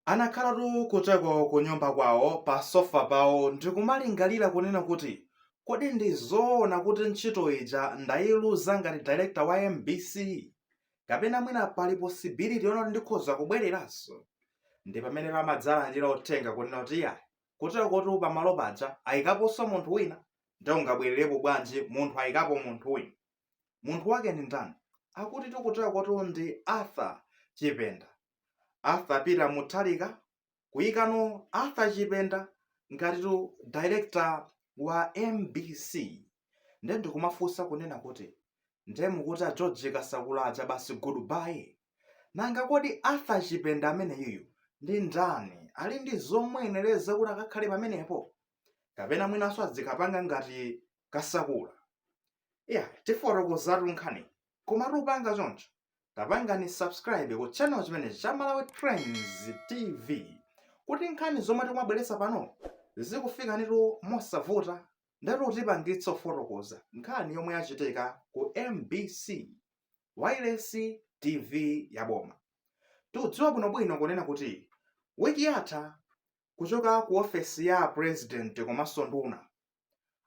Anakhala duu kuteko kunyumba kwawo pa sofa pawo ndikumalingalira kunena kuti kodi ndi zoona kuti ntchito ija ndayiluza ngati director wa mbc? Kapena mwina pali possibility yonena kuti ndikhoza kubwereranso? Ndipamenetu amadzalandira uthenga kunena kuti iyayi kutekotu pamalo paja ayikaponso munthu wina nde ungabwererepo bwanji munthu ayikapo munthu wina? Munthu wake ndi ndani? Akutitu kutekotu ndi Arthur Chipenda. Arthur Peter Mutharika kuyikano Arthur Chipenda ngati director wa mbc nde ndikumafunsa kunena kuti nde mukuti a George Kasakula aja basi goodbye nanga kodi Arthur Chipenda ameneyuyu ndi ndani ali ndi zomuyenereza kuti akakhale pamenepo kapena mwinanso adzikapanga ngati Kasakula ya tifotokozatu nkhani koma tisanapange choncho tapangani subscribe ku channel chimenechi cha Malawi Trends TV kuti nkhani zomwe tikumabweretsa pano zikufikanitu mosavuta ndiyetu tipange zofotokoza nkhani yomwe yachitika ku MBC wailesi TV ya boma. Tikudziwa bwinobwino kunena kuti wiki yatha kuchoka ku ofesi ya a president komanso nduna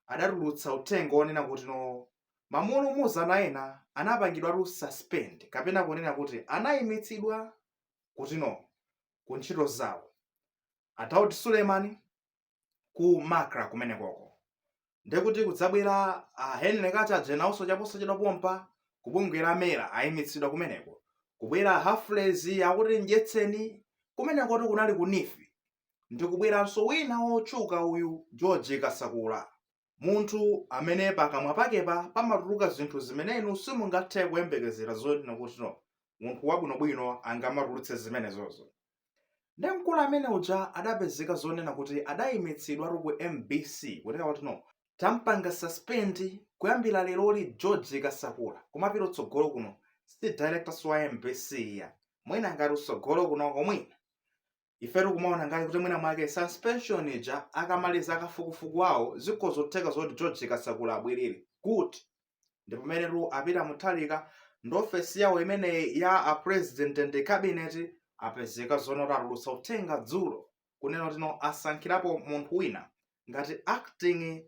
adatulutsa uthenga onena kutino amulumuzana ena anapangidwatu suspend kapena kunena kuti anaimitsidwa kutino ku ntchito zawo a Daud Suleiman ku MACRA kumenekoko nde kuti kudzabwera a Henry Kachaje nawonso chaposachedwa pompano kubungwe la MERA ayimitsidwa kumeneko kubwera a Humphrey akuti Mdyetseni kumenekotu kunali ku NEEF ndikubweranso wina wotchuka uyu George Kasakula munthu amene pakamwa pakepo pamatuluka zinthu zimene inu simungathe kuyembekezera zonena kutino munthu wabwinobwino angamatulutse zimenezozo nde mkulu amene uja adapezeka zonena kuti adaimitsidwatu ku mbc kunena kutino tampanga suspend kuyambira leroli George Kasakula kumapita utsogolo kuno si directorso wa mbc ya mwina ngati utsogolo kunoko mwina ifetu kumaona ngati kuti mwina mwake suspension ija akamaliza kafukufuku wawo zikhozotheka zoti George Kasakula abwerere kuti ndi pamenetu a Peter Mutharika ndi ofesi yawo imeneyi ya a president and cabinet apezeka zonoti atulutsa uthenga dzulo kunena kutino asankhirapo munthu wina ngati acting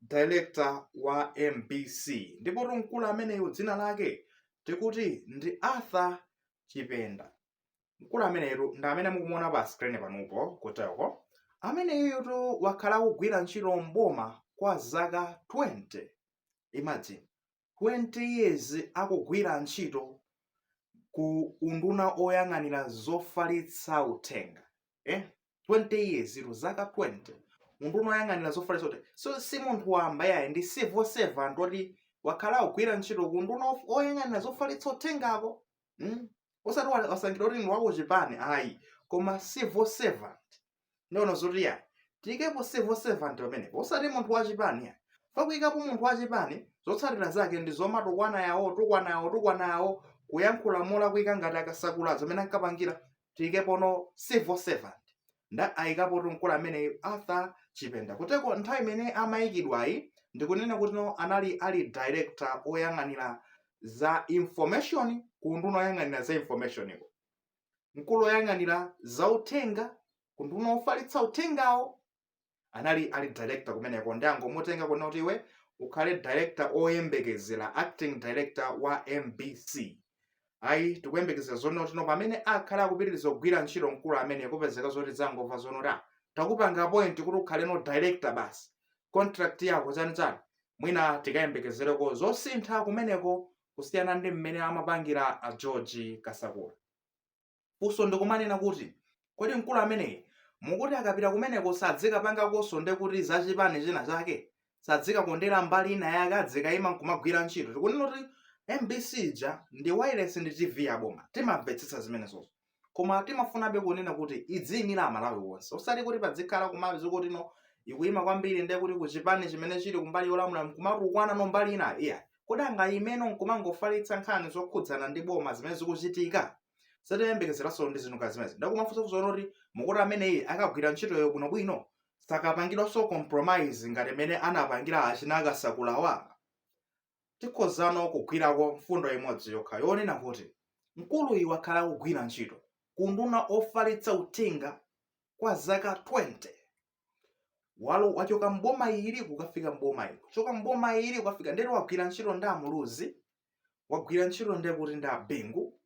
director wa mbc ndipo mkulu ameneyu dzina lake tikuti ndi Arthur Chipenda mkulu ameneyu ndi amene mukumuona pa screen panopo kuteko ameneyutu wakhala akugwira ntchito m'boma kwa zaka 20 imagine 20 years akugwira ntchito ku unduna woyang'anira zofalitsa uthenga eh? 20 years ilo zaka 20 unduna woyang'anira zofalitsa uthenga so si munthu wamba yayi ndi civil servant woti wakhala akugwira ntchito ku unduna of- oyang'anira zofalitsa uthengako mm? osati wa- wasankhidwa kuti ndi wakuchipani ayi koma civil servant ndono zoti ya tiyikepo civil servant pamenepo osati munthu wachipani ya pakuyikapo munthu wachipani zotsatira zake ndi zomatukwana awa kutukwana awa kutukwana awa kuyankhula molakwika ngati akasakula zimene ankapangira tiyikepono civil servant nde ayikapo mkulu ameneyu arthur chipenda kotero nthawi imene amayikidwayi ndikunena kuti no anali ali director oyang'anira za information ku unduna woyang'anira za information-ko mkulu woyang'anira za uthenga ku unduna wofalitsa uthengawo anali ali director kumeneko nde angomutenga kunena kuti iwe ukhale director oyembekezera acting director wa mbc ayi tikuyembekezera zonoti tiona pamene akhale akupitiriza kugwira ntchito mkulu amene kupezeka zoti zangomva zonoti ah takupanga appoint kuti ukhaleno director basi contract yako chani chani mwina tikayembekezereko zosintha kumeneko kusiyana ndi mmene amapangira a George Kasakula. Funso ndikumanena kuti kodi mkulu ameneyi mukuti akapita kumeneko sadzikapangakonso nde kuti za chipani china chake sadzikakondera mbali ina yake adzikaima nkumagwira ntchito tikunena kuti mbc ija ndi wailesi ndi tv ya boma timamvetsetsa zimenezozo koma timafunabe kunena kuti idziyimira aMalawi onse osati kuti padzikhala kumapezeka kuti no ikuyima kwambiri ndiye kuti ku chipani chimene chili kumbali yolamula mkumatukwana no mbali inayi kodi angayimeno nkumangofalitsa nkhani zokhudzana ndi boma zimene zikuchitika satiyembekezeranso ndi zinthu ngati zimenezi ndakumafunsa kuzoona kuti mukuti ameneyi akagwira ntchitoyo bwinobwino sakapangidwanso compromise ngati mmene anapangira achina akasakulawa tikhozano kugwirako mfundo imodzi yokha yonena kuti mkuluyi wakhala akugwira ntchito ku unduna wofalitsa uthenga kwa zaka 20 walo wachoka mboma ili kukafika mboma ili kuchoka mboma ili kukafika ndekuti wagwira ntchito ndi amuluzi wagwira ntchito ndekuti ndi abingu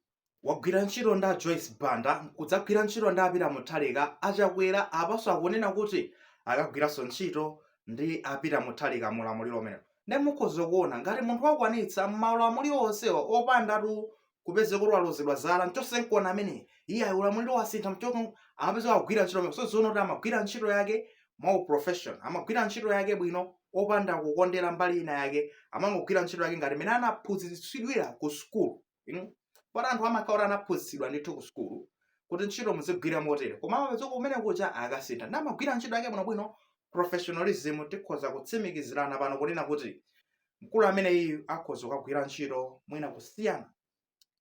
wagwira ntchito ndi a Joyce Banda n'kudzagwira ntchito ndi a Peter Mutharika, a Chakwera apanso akunena kuti akagwiranso ntchito ndi a Peter Mutharika mu ulamuliro umenewu. Ndiye mukhoza kuona ngati munthu wakwanitsa m'maulamuliro onsewa opandatu kupezeka kuti walozedwa chala n'chotsedwa amene iye ayi ulamuliro wasintha mchoko amapeza wagwira ntchito imene so zikuoneka kuti amagwira ntchito yake mwa uprofession amagwira ntchito yake bwino opanda kukondera mbali ina yake amangogwira ntchito yake ngati mmene anaphunzitsidwira ku sukulu inu poti anthu amakhala kuti anaphunzitsidwa ndithu ku sukulu kuti ntchito muzigwira motere koma amapezeka mwina kuti akasintha amagwira ntchito yake bwinobwino professionalism tikhoza kutsimikizirana pano kunena kuti mkulu ameneyi akhoza kukagwira ntchito mwina kusiyana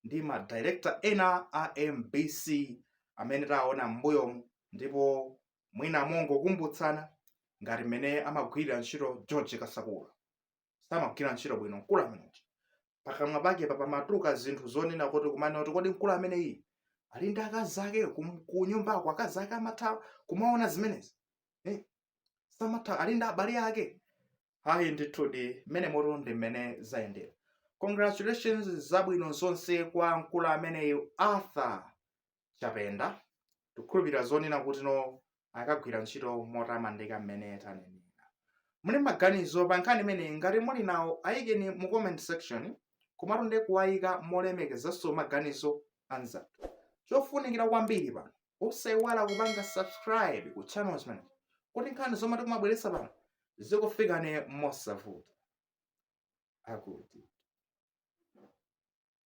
ndi ma director ena a mbc amene taona m'mbuyomu ndipo mwina mongokumbutsana ngati mmene amagwirira ntchito george kasakula samagwira ntchito bwino mkulu ameneyi pakamwa pake pamatuluka zinthu zonena kuti kumanena kuti kodi mkulu ameneyi ali ndi akazi ake kum- ku nyumbako akazi ake amatha kumaona zimenezi eh? samatha ali ndi abale ake ayi ndithudi mmenemotu ndi mmene zayendera congratulations zabwino zonse kwa mkulu ameneyi arthur chapenda tikukhulupirira zonena kuti no akagwira ntchito motamandika mmene tanenera muli maganizo pa nkhani imeneyi ngati muli nawo ayikeni mu comment section komatu ndi kuwayika molemekezanso maganizo anzathu chofunikira kwambiri pano osayiwala kupanga subscribe ku channel chimenechi kuti nkhani zomwe tikumabweretsa pano zikufikani mosavuta akuti